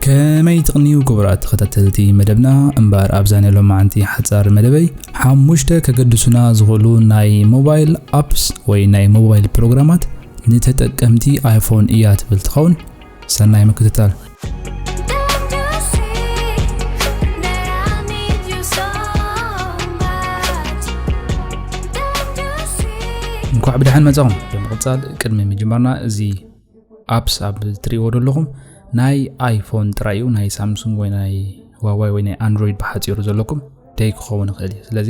ከመይ ትቕንዩ ክቡራት ተኸታተልቲ መደብና እምበር ኣብዛ ናይ ሎማዓንቲ ሓጻር መደበይ ሓሙሽተ ከገድሱና ዝኽእሉ ናይ ሞባይል ኣፕስ ወይ ናይ ሞባይል ፕሮግራማት ንተጠቀምቲ ኣይፎን እያ ትብል ትኸውን ሰናይ ምክትታል እንኳዕ ብድሓን መጻኹም ብምቕጻል ቅድሚ ምጅማርና እዚ ኣፕስ ኣብ እትሪእዎ ዘለኹም ናይ ኣይፎን ጥራይ እዩ ናይ ሳምሱንግ ወይ ናይ ዋዋይ ወይ ናይ ኣንድሮይድ ብሓፂሩ ዘለኩም ደይ ክኸውን ይኽእል እዩ ስለዚ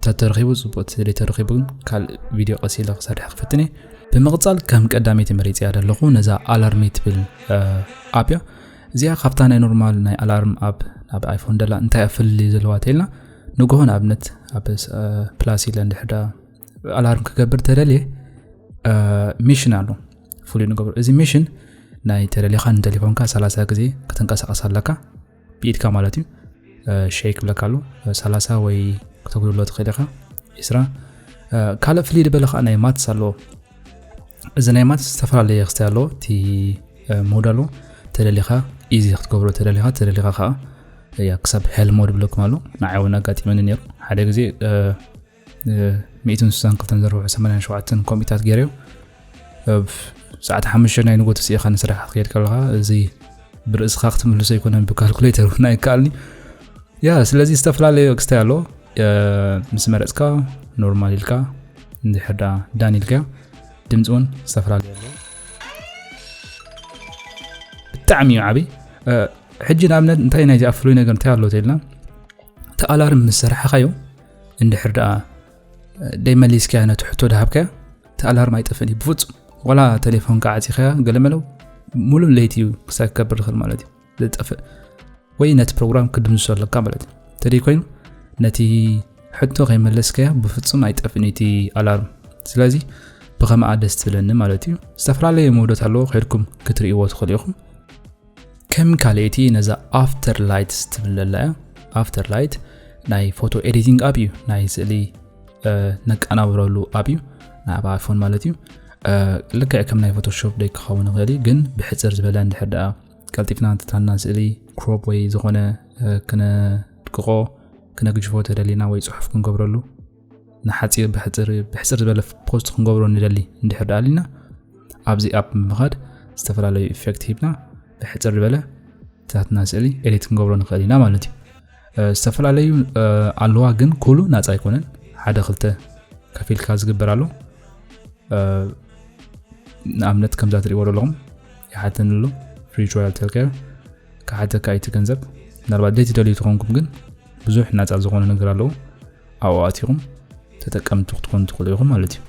ተተረኺቡ ፅቡቅ ስለ ተረኺቡ ግን ካልእ ቪድዮ ቀስ ኢለ ክሰርሕ ክፍትን እየ ብምቕፃል ከም ቀዳመይቲ መሪፅያ ዘለኹ ነዛ ኣላርሚ ትብል ኣፕ እያ እዚኣ ካብታ ናይ ኖርማል ናይ ኣላርም ኣፕ ናብ ኣይፎን ደላ እንታይ ኣፍልልዩ ዘለዋ ተልና ንግሆ ንኣብነት ኣብ ፕላስ ኢለ እንድሕዳ ኣላርም ክገብር ተደልየ ሚሽን ኣሎ ፍሉይ ንገብሩ እዚ ሚሽን ናይ ተደሊኻ ንተሌፎንካ 30 ግዜ ክትንቀሳቀስ ኣለካ ብኢድካ ማለት እዩ ሸይክ ብለካ ኣሉ 30 ወይ ክተጉድሎ ትኽእል ኢኻ ስራ ካልእ ፍልይ ድበለ ከዓ ናይ ማትስ ኣለዎ እዚ ናይ ማትስ ዝተፈላለየ ክስተ ኣለዎ እቲ ሞድ ኣለዎ ተደሊኻ ኢዚ ክትገብሮ ተደሊኻ ተደሊኻ ከዓ ክሳብ ሄልሞድ ብለኩም ኣሎ ንዓይ እውን ኣጋጢመኒ ነሩ ሓደ ግዜ ሚእትን ስሳን ክልተን ዘርብሑ ሰማንያን ሸውዓተን ኮምፒታት ገይረዮ ኣብ ሰዓት ሓሙሽተ ናይ ንጎት ስኢኻ ንስራሕ ክትከይድ ከለኻ እዚ ብርእስኻ ክትምልሶ ኣይኮነን ብካልኩሌተር እውን ኣይከኣልኒ ያ ስለዚ ዝተፈላለዩ ክስታይ ኣሎ ምስ መረፅካ ኖርማል ኢልካ እንድሕር ዳ ዳን ኢልካ ድምፂ እውን ዝተፈላለዩ ኣሎ ብጣዕሚ እዩ ዓብይ ሕጂ ንኣብነት እንታይ ናይዚ ኣፍሉይ ነገር እንታይ ኣሎ ተኢልና ተኣላርም ምስ ሰራሕኻዮ እንድሕር ደኣ ደይ መሊስካያ ነቲ ሕቶ ድሃብካያ እቲ ኣላርም ኣይጠፍእን እዩ ብፍፁም ዋላ ቴሌፎን ከዓ ዓፂኻያ ገለመለው ሙሉእ ለይቲ እዩ ክሳብ ክከብር ዝኽእል ማለት እዩ ዝጠፍእ ወይ ነቲ ፕሮግራም ክድምሶ ኣለካ ማለት እዩ እንተደይ ኮይኑ ነቲ ሕቶ ከይመለስካያ ብፍፁም ኣይጠፍእን እቲ ኣላርም ስለዚ ብኸምኣ ደስ ትብለኒ ማለት እዩ ዝተፈላለዩ መውደት ኣለዎ ከድኩም ክትርእይዎ ትኽእሉ ኢኹም ከም ካልኤቲ ነዛ ኣፍተር ላይት ትብል ዘላ እያ ኣፍተር ላይት ናይ ፎቶ ኤዲቲንግ ኣብ እዩ ናይ ስእሊ ነቀናብረሉ ኣብ እዩ ናይ ኣብ ኣይፎን ማለት እዩ ልክዕ ከም ናይ ፎቶሾፕ ደይ ክኸውን ይኽእል እዩ ግን ብሕፅር ዝበለ እንድሕር ደኣ ቀልጢፍና እንትታና ስእሊ ክሮፕ ወይ ዝኾነ ክነድቅቆ ክነግጅፎ ተደሊና ወይ ፅሑፍ ክንገብረሉ ንሓፂር ብሕፅር ብሕፅር ዝበለ ፖስት ክንገብሮ ንደሊ እንድሕር ደኣ ኣሊና ኣብዚ ኣፕ ምኻድ ዝተፈላለዩ ኢፌክት ሂብና ብሕፅር ዝበለ ታትና ስእሊ ኤዲት ክንገብሮ ንኽእል ኢና ማለት እዩ ዝተፈላለዩ ኣለዋ ግን ኩሉ ናፃ ኣይኮነን ሓደ ክልተ ከፊልካ ዝግበር ኣሎ ንኣብነት ከምዛ ትሪእዎ ዘለኹም ይሓተኒ ኣሎ ፍሪ ትራያል ቴልኬር ክሓተካ እቲ ገንዘብ ምናልባት ደይ ትደልዩ ትኾንኩም ግን ብዙሕ ናፃ ዝኾነ ነገር ኣለዎ ኣብኡ ኣቲኹም ተጠቀምቲ ክትኮኑ ትኽእሉ ኢኹም ማለት እዩ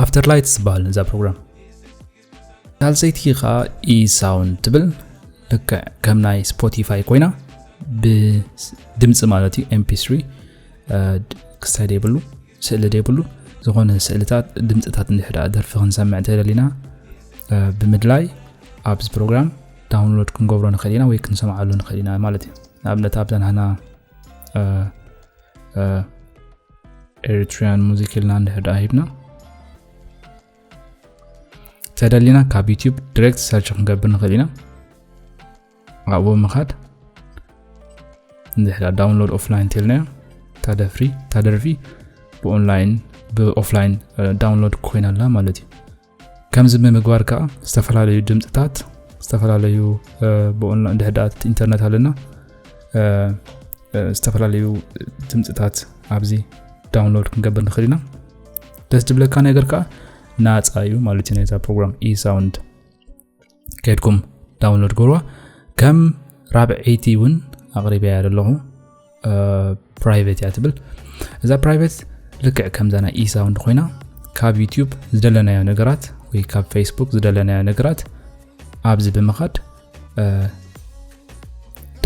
ኣፍተር ላይት ዝበሃል እዛ ፕሮግራም ሳልሰይቲ ከዓ ኢሳውንድ ትብል ልክዕ ከም ናይ ስፖቲፋይ ኮይና ብድምፂ ማለት እዩ ኤምፒ3 ክስታይ ደይብሉ ስእሊ ደይብሉ ዝኾነ ስእልታት ድምፅታት እንድሕዳ ደርፊ ክንሰምዕ እንተደሊና ብምድላይ ኣብዚ ፕሮግራም ዳውንሎድ ክንገብሮ ንኽእል ኢና ወይ ክንሰምዓሉ ንኽእል ኢና ማለት እዩ ንኣብነት ኣብዘን ሃና ኤሪትሪያን ሙዚክ ኢልና እንድሕር ድኣ ሂብና ተደሊና ካብ ዩቲዩብ ዲሬክት ሰርች ክንገብር ንኽእል ኢና ኣብኡ ምኻድ እንድሕዳ ዳውንሎድ ኦፍላይን ተልናዮ ታደፍሪ ታደርፊ ብኦንላይን ብኦፍላይን ዳውንሎድ ኮይና ኣላ ማለት እዩ ከምዚ ብምግባር ከዓ ዝተፈላለዩ ድምፅታት ዝተፈላለዩ ብኦንላይን ድሕዳት ኢንተርነት ኣለና ዝተፈላለዩ ድምፅታት ኣብዚ ዳውንሎድ ክንገብር ንኽእል ኢና ደስ ዝብለካ ነገር ከዓ ናፃ እዩ ማለት እዩ ነዛ ፕሮግራም ኢሳውንድ ከድኩም ዳውንሎድ ግብርዋ ከም ራብዐይቲ እውን ኣቕሪበያ ዘለኹ ፕራይቨት እያ ትብል እዛ ፕራይቨት ልክዕ ከምዛ ናይ ኢሳውንድ ኮይና ካብ ዩትብ ዝደለናዮ ነገራት ወይ ካብ ፌስቡክ ዝደለናዮ ነገራት ኣብዚ ብምኻድ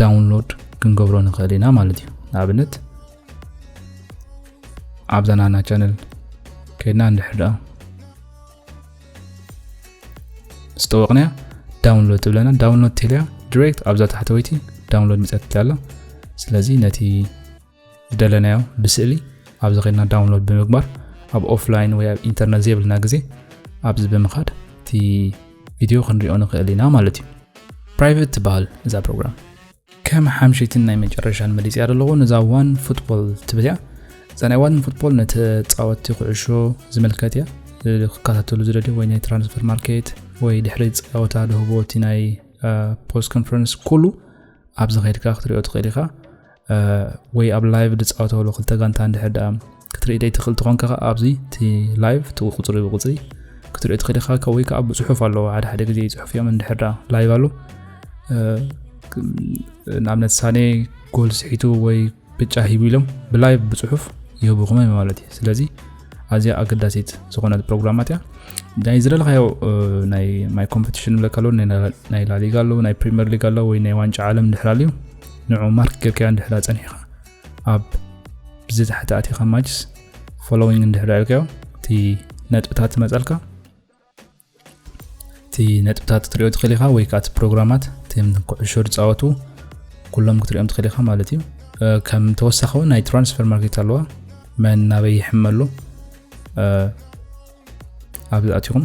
ዳውንሎድ ክንገብሮ ንኽእል ኢና ማለት እዩ ንኣብነት ኣብዛ ናና ቻነል ከድና እንድሕር ደኣ ዝተወቕንያ ዳውንሎድ ትብለና ዳውንሎድ ቴልያ ዲሬክት ኣብዛ ታሕተወይቲ ዳውንሎድ ሚፀት ኣሎ ስለዚ ነቲ ዝደለናዮ ብስእሊ ኣብዚ ኸድና ዳውንሎድ ብምግባር ኣብ ኦፍላይን ወይ ኣብ ኢንተርነት ዘይብልና ግዜ ኣብዚ ብምኻድ እቲ ቪድዮ ክንሪኦ ንኽእል ኢና ማለት እዩ ፕራይቬት ትበሃል እዛ ፕሮግራም ከም ሓምሸይትን ናይ መጨረሻን መሊጽያ ደለኹ ነዛ ዋን ፉትቦል ትብል እያ እዛ ናይ ዋን ፉትቦል ንተጻወትቲ ኩዕሾ ዝምልከት እያ ክከታተሉ ዝደልዩ ወይ ናይ ትራንስፈር ማርኬት ወይ ድሕሪ ጸወታ ደህቦ እቲ ናይ ፖስት ኮንፈረንስ ኩሉ ኣብዚ ከድካ ክትሪኦ ትኽእል ኢኻ ወይ ኣብ ላይቭ ዝፃወተሉ ክልተ ጋንታ እንድሕር ደኣ ክትርኢ ደይ ትኽእል ትኾንካ ከ ኣብዚ እቲ ላይቭ እቲ ቁፅሪ ብቁፅሪ ክትሪኦ ትኽእል ኢኻ ካብ ወይ ከዓ ብፅሑፍ ኣለዎ ሓደ ሓደ ግዜ ይፅሑፍ እዮም እንድሕር ደኣ ላይቭ ኣሎ ንኣብነት ሳኔ ጎል ስሒቱ ወይ ብጫ ሂቡ ኢሎም ብላይቭ ብፅሑፍ ይህቡኹም እዮም ማለት እዩ ስለዚ ኣዝያ ኣገዳሲት ዝኾነት ፕሮግራማት እያ ናይ ዝደለኻዮ ናይ ማይ ኮምፒቲሽን ብለካ ኣሎ ናይ ላሊጋ ኣሎ ናይ ፕሪምየር ሊግ ኣሎ ወይ ናይ ዋንጫ ዓለም እንድሕር ኣልዩ ንዑ ማርክ ጌርካዮ እንድሕር ፀኒሕኻ ኣብ ብዚ ታሕቲ ኣቲኻ ማጅስ ፎሎዊንግ እንድሕር ኣልካዮ እቲ ነጥብታት ዝመፀልካ እቲ ነጥብታት ክትሪኦ ትኽእል ኢኻ ወይ ከዓ እቲ ፕሮግራማት እቲም ኩዕሾ ዝፃወቱ ኩሎም ክትሪኦም ትኽእል ኢኻ ማለት እዩ ከም ተወሳኺ እውን ናይ ትራንስፈር ማርኬት ኣለዋ መን ናበይ ይሕመሉ ኣብዚ ኣትኹም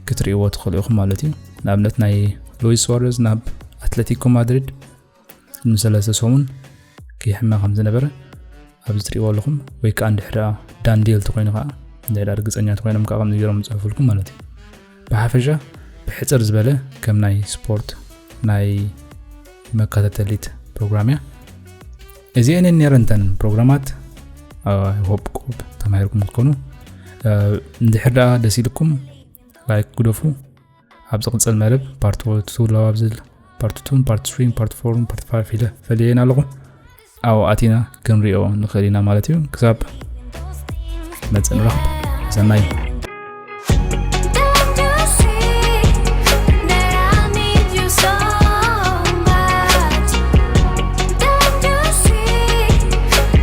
ክትሪእዎ ትኽእሉ ኢኹም ማለት እዩ ንኣብነት ናይ ሉዊስ ሱዋረዝ ናብ ኣትለቲኮ ማድሪድ ንሰለስተ ሰሙን ክይሕመ ከም ዝነበረ ኣብዚ ትሪእዎ ኣለኹም ወይ ከዓ እንድሕር ዳንዴል ተኮይኑ ከዓ እንድሕር ርግፀኛ ተኮይኖም ከዓ ከምዚ ገይሮም ዝፅሕፉልኩም ማለት እዩ ብሓፈሻ ብሕፅር ዝበለ ከም ናይ ስፖርት ናይ መከታተሊት ፕሮግራም እያ እዚአን ነረንተን ፕሮግራማት ሆፕ ቆብ ተማሂርኩም ክትኮኑ እንድሕር ደኣ ደስ ኢልኩም ላይክ ግደፉ ኣብ ዝቕፅል መደብ ፓርቲ ወለቱ ዝውላው ኣብ ዝብል ፓርቲ ቱን ፓርቲ ስሪን ፓርቲ ፎርን ፓርቲ ፋይፍ ኢለ ፈልየን ኣለኹ ኣብኡ ኣቲና ክንሪኦ ንኽእል ኢና ማለት እዩ ክሳብ መፅእ ንረኽብ ሰናይ